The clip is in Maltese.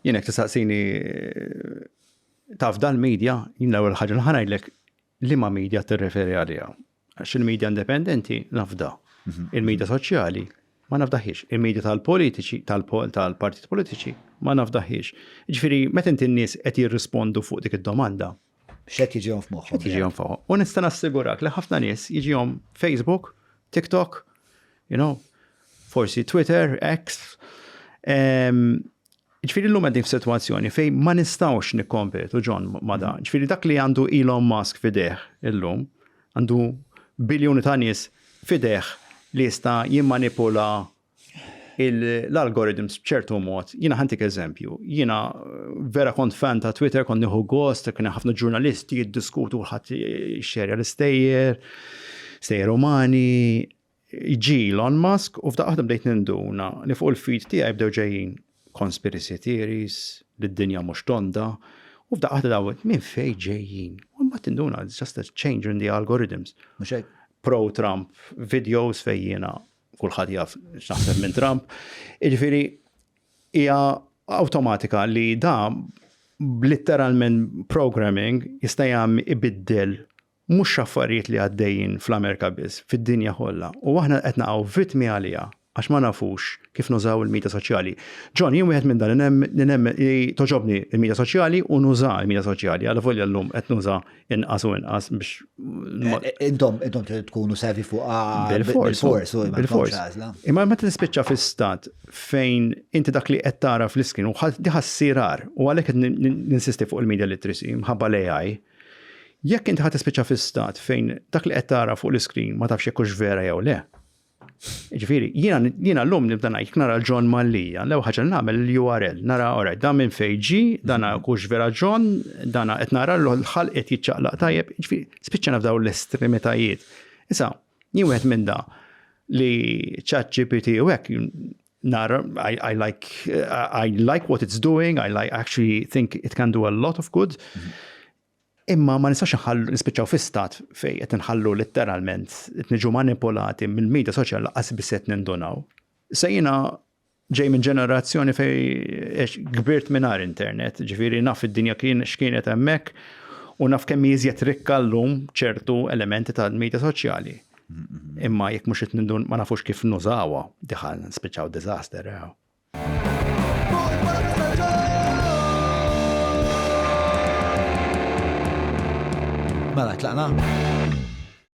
Jien hekk tistaqsini taf dal-medja, jien l-ewwel ħaġa ngħidlek li ma medja tirreferi għaliha. Għax il-medja indipendenti nafda. Mhm. Il-medja soċjali ma nafdaħiex. Il-medja tal-politiċi, tal-partit politiċi ma nafdaħiex. Ġifieri, meta inti n-nies qed jirrispondu fuq dik id-domanda. X'qed jiġihom f'moħħhom. Qed jiġihom f'moħħhom. U nista' nassigurak li ħafna nies jiġihom Facebook, TikTok, you know, forsi Twitter, X, Ġifieri llum qegħdin f'sitwazzjoni fejn ma nistgħux nikkompetu John ma' dan. Mhm. Ġifieri dak li għandu Elon Musk fideh illum għandu biljuni ta' nies fideh li jista' jimmanipula l-algorithms b'ċertu mod, jiena ħantik eżempju, jiena vera kont fan ta' Twitter, kont nieħu gost, kien ħafna ġurnalisti jiddiskutu ħadd xerja l-istejjer, stejjer umani, Ġie Elon Musk u f'daqqa waħda bdejt ninduna li fuq il-feed tiegħi bdew ġejjin conspiracy theories, li d-dinja mhux tonda, u f'daqqa waħda dawn minn fejn ġejjin? U mbagħad tinduna it's just a change in the algorithms. Mhux hekk? Pro-Trump videos fejn jiena kulħadd jaf x'naħseb minn Trump. Jiġifieri hija awtomatika li da litteralment programming jista' jagħmel ibiddel Mhux xi affarijiet li għaddejjin fl-Amerika biss, fid-dinja kollha. U aħna qed naqgħu vittmi għaliha għax ma nafux kif nużaw il-midja soċjali. John, jien wieħed minn dan li nemmen li togħġobni l-midja soċjali u nuża l-midja soċjali, alavolja llum qed nuża inqas u inqas biex. Intom intom trid tkunu servi fuqha bil-fors u bil-fors. Imma meta tispiċċa fi stat fejn inti dak li qed tara fl-iskin u diħa ssirar u għalhekk qed ninsisti fuq il-media literacy mħabba l-AI Jekk inti ħa tispiċċa fi stat fejn dak li qed tara fuq l-iskrin ma tafx jekk hux vera jew le. Ġifieri, jiena llum nibda ngħid nara l-John Mallija, l-ewwel ħaġa nagħmel l-URL, nara ora dan minn fejn ġi, dan hux vera John, dan qed nara l-ħalq qed jiċċaqlaq tajjeb, ġifieri spiċċana f'dawn l-estremitajiet. Issa, jien wieħed minn da li chat GPT u hekk Nara, I, I like uh, I like what it's doing, I like actually think it can do a lot of good. Imma ma nistax nħallu nispiċċaw fi stat fej qed nħallu litteralment qed niġu manipolati mill-medja soċjal laqas biss qed nindunaw. Sejna ġej minn ġenerazzjoni fej kbirt mingħajr internet, ġifieri naf id-dinja kien x'kienet hemmhekk u naf kemm jiżjed rikka llum ċertu elementi tal-medja soċjali. Imma jekk mhux qed ma nafux kif nużawha, diħal spiċċaw diżaster. Mela, tlaqna?